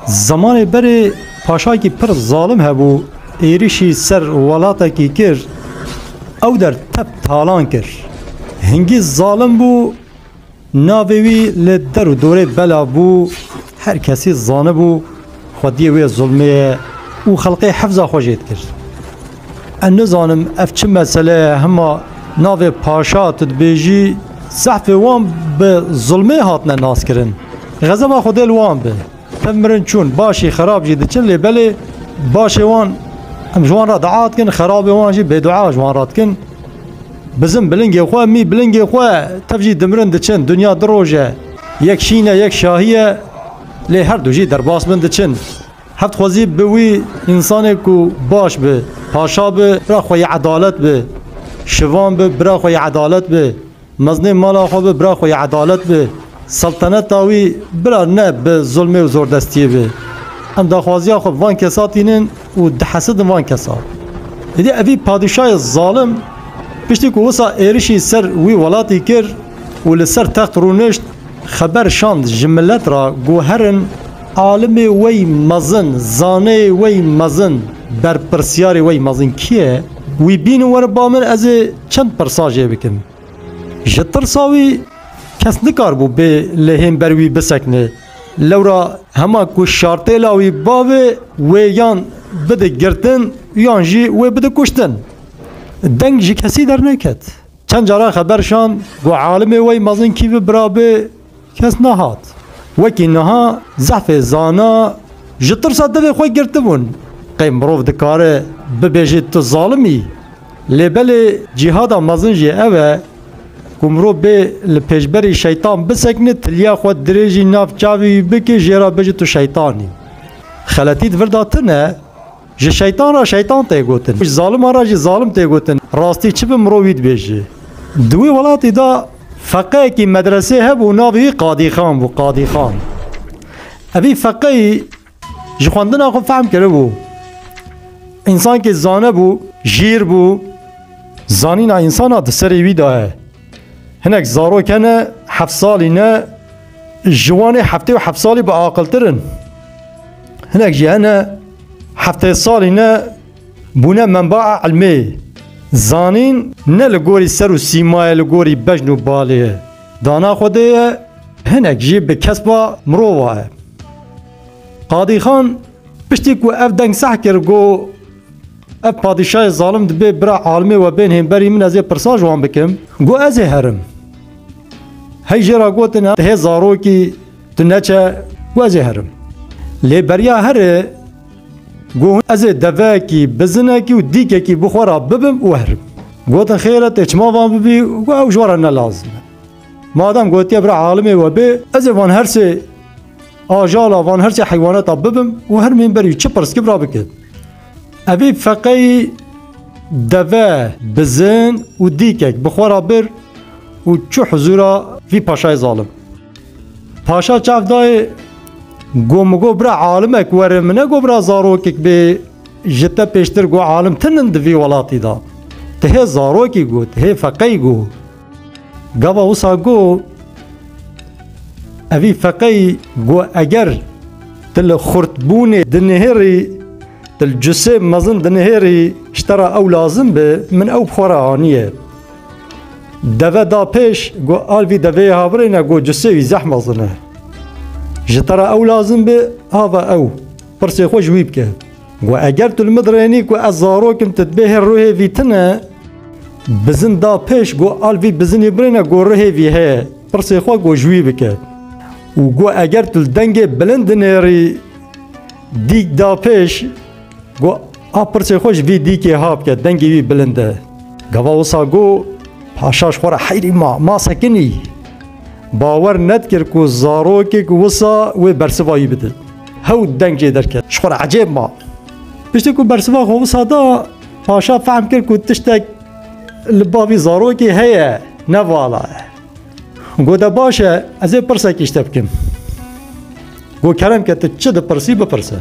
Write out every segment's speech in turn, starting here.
Zemanê berê paşakî pir zalim hebû êrişî ser welatekî kir ew der tep talan kir. Hingî zalim bû navê wî li der û dorê belav bû her kesî zanibû Xwediyê wê zulmê ye û xelqê hifza xwe jê dikir. Ez nizanim ev çi mesele ye hima navê paşa tu dibêjî zehfê wan bi zulmê hatine naskirin. Xezeba Xwedê li wan be. Tev mirin çûn, başî xerab jî diçin lê belê başê wan em ji wan re dua dikin, xerabê wan jî bêdua ji wan re dikin. Bizim bilingê xwe, mî bilingê xwe, tev jî dimirin diçin. Dinya du roj e. Yek şîn e, yek şahî ye. Lê her du jî derbas bin diçin. Heft xwezî bi wî însanê ku baş bi, paşa bi, bira xwe yê edalet bi, şivan bi, bira xwe yê edalet bi, mezinê mala xwe bi, bira xwe yê edalet bi, selteneta wî bira ne bi zulmê û zordestiyê bi. Em daxwaziya xwe bi van kesa tînin. û dihesidin van kesan. Êdî evî padîşayê zalim piştî ku wisa êrişî ser wî welatî kir û li ser text rûnişt, xeber şand ji milet re ku herin alimê wey mezin, zaneyê wey mezin, berpirsyarê wey mezin kî ye? Wî bînin were ba min ez ê çend pirsa jê bikim. Ji tirsa wî kes nikaribû bê lê hên ber wî bisekine. Lewra hema ku şartêla wî bavê wê yan bide girtin yan jî wê bide kuştin. Deng ji kesî derneket. Çend caran xeber şand ku alimê wey mezin kî bi birabê kes nehat. Wekî niha zehfê zana ji tirsa devê xwe girtibûn. Qey mirov dikare bibêje tu zalim î? Lê belê cîhada mezin jî ev e ku mirov bê li pêşberî şeytan bisekine, tiliya xwe dirêjî nav çavê wî bike jê re bijî tu şeytan î. Xeletî di vir de tune, ji şeytan re şeytan tê gotin, ji zaliman re jî zalim tê gotin. Rastî çi bi mirov wî dibêje? Di wê welatê de feqeyekî medresê hebû navê wî Qadîxan bû, Qadîxan. Evî feqeyî. Ji xwendina xwe fehm kiribû. Însankê zanebû, jîr bû, zanîna însana di serê wî de ye. Hinek zarok hene heft salî ne ji wanê heftê û heft salî bi aqiltir in. Hinek jî hene heftê salî ne bûne menbaa ilmê. Zanîn ne li gorî ser û sîmayê li gorî bejn û balê ye. Dana Xwedê ye hinek jî bi kesba mirova ye. Qadîxan piştî ku ev deng seh kir ku ev padîşayê zalim dibê bira alimê we bên hênberî min ez ê pirsa ji wan bikim, got ez ê herim. Hey jê re gotin tu hê zarokî tu neçe, got ez ê herim. Lê beriya herê Got hûn ez ê deveyekî, bizinekî û dîkekî bi xwe re bibim û herim. Gotin xêr e tê çima van bibî? Got ew ji we re ne lazim e. Madem gotiye bira alimê we bê, ez ê van her sê ajala, van her sê heywaneta bibim û hermîn berî çi pirskî bira bikim. Evî feqeyî deve, bizin û dîkek bi xwe re bir û çû hizûra vî paşayê zalim. Paşa çav dayê got min got bira alimek were min negot bira zarokek bê ji te pêştir got alim tinin di vî welatî da. Ti hê zarokî got, hê feqey got. Gava wisa got evî feqey got eger ti li xurtbûnê dinihêrî ti li cusê mezin dinihêrî ji te re ew lazim be min ew bi xwe re aniye. Deve da pêş go alvî deveyê havirê ne go cusê wî zeh mezin e. Ji te re ew lazim bê hava ew pirsê xwe ji wî bike. Go eger tu li min dirênî ku ez zarokim tu dibê hê ruhê vî tine bizin da pêş go alvî bizinî birêne go ruhê vî heye pirsê xwe go ji wî bike. Û go eger tu li dengê bilind dinêrî dîk da pêş Go a pirsê xwe ji vî dîkê ha bike dengê wî bilind e. Gava wisa go paşa ji xwe re heyrî ma ma sekinî. Bawer nedkir ku zarokek wisa wê bersiva wî bide. Hew deng jê derket ji xwe re ecêb ma. Piştî ku bersiva xwe wisa da paşa fehm kir ku tiştek li bavî zarokê heye ne vala ye. Goda baş e ez ê pirsekî ji te bikim. Go kerem ke tu çi dipirsî bipirse.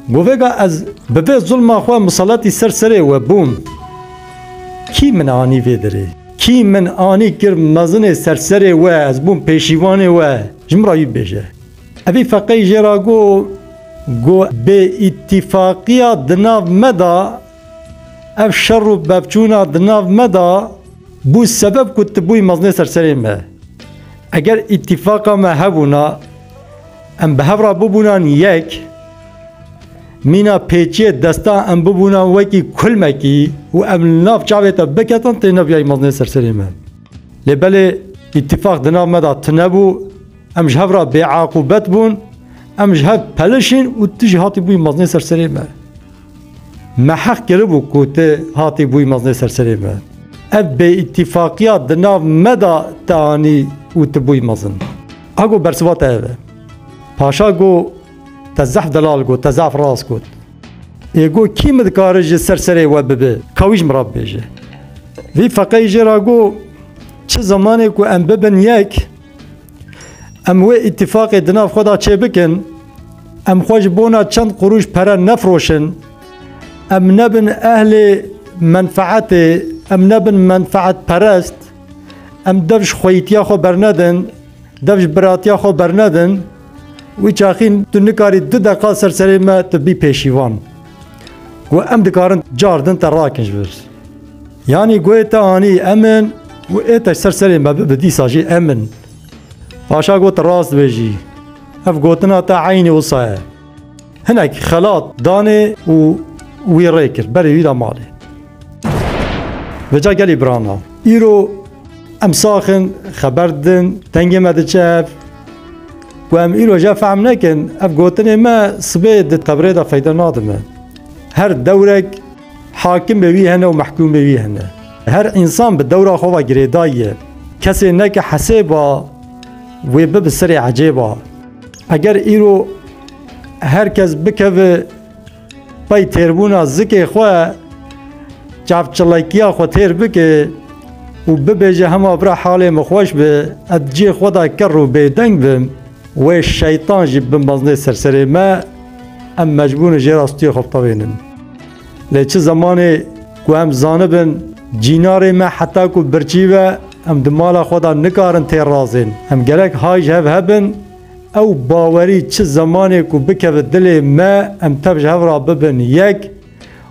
Go vêga ez bi vê zulma xwe misaletî ser serê we bûm. Kî min anî vê derê? Kî min anî kir mezinê ser serê we ez bûm pêşîvanê we ji min re wî bêje. Evî feqeyî jê ra go go bê îtîfaqiya di nav me da Ev şer û pevçûna di nav me de bû sebeb ku tu bûyî mezinê ser serê me. Eger îtîfaka me hebûna, em bi hev re bibûnan yek, mîna pêçiyê desta em bibûnan wekî kulmekî û em li nav çavê te biketin tê nebiyayî mezinê ser serê me. Lê belê îtîfak di nav me de tune bû, em ji hev re bêeqûbet bûn, em ji hev pelişîn û tu jî hatî bûyî mezinê ser serê me. Me heq kiribû ku tu hatî bûyî meznê ser serê me. Ev bêîtîfaqiya di nav me de te anî û tu bûyî mezin. A go bersiva te ev e. Paşa go te zehf delal got, te zehf rast got. Ê go kî min dikare ji ser serê we bibe ka wî ji min re bibêje. Vî feqeyê jê re go çi zemanê ku em bibin yek Em wê îtîfaqê di nav xwe de çêbikin, em xwe ji bona çend qurûş pere nefroşin, em nebin ehlê menfeetê, em nebin menfeetperest, em dev ji xweyîtiya xwe bernedin, dev ji biratiya xwe bernedin, wî çaxîn tu nikarî du deqa ser serê me tu bî pêşîvan. Got em dikarin car din te rakin ji vir. Yanî goyê te anî emin û ê te ser serê me bibi dîsa jî emin. Paşa got rast bêjî. Ev gotina te eynî wisa ye. Hinek xelat danê û wî rê kir berê wî de malê. Veca gelê birana. Îro em saxin xeber din dengê me diçe ev ku em îro je fehm nekin ev gotinê me sibê di tebrê de feyde nadime. Her dewrek hakim bê wî hene û mehkûm bê wî hene. Her însan bi dewra xwe ve girêdayî ye. Kesê neke hesêba wê bi bi serê ecêba. Eger îro her kes bikeve Pey têrbûna zikê xwe çavçilekiya xwe têr bike û bibêje hema bira halê min xweş bi ez cê xwe da ker û bêdeng bim wê şeytan jî bimeznê ser serê me em mecbûrin jê re stûyê xwe bixebînin. Lê çi zemanê ku em zanibin cînarê me heta ku birçî be em di mala xwe da nikarin têr razên em gerek hay ji hev hebin Ew bawerî çi zemanê ku bikeve dilê me em tev ji hev re bibin yek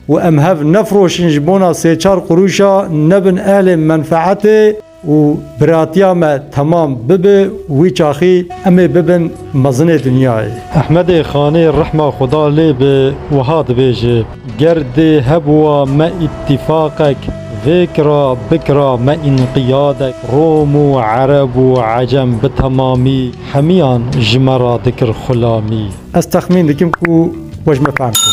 û em hev nefiroşin ji bona sê çar qurûşa nebin ehlê menfeetê û biratiya me temam bibe wî çaxî em ê bibin mezinê dinyayê. Ehmedê Xanê rehma Xweda lê be wiha dibêje. Ger dê hebûa me îtîfaqek vêkira bikira me înqiyadek Rom û Ereb û Ecem bi temamî hemiyan ji me ra dikir xulamî. Ez texmîn dikim ku we ji me fehm kir.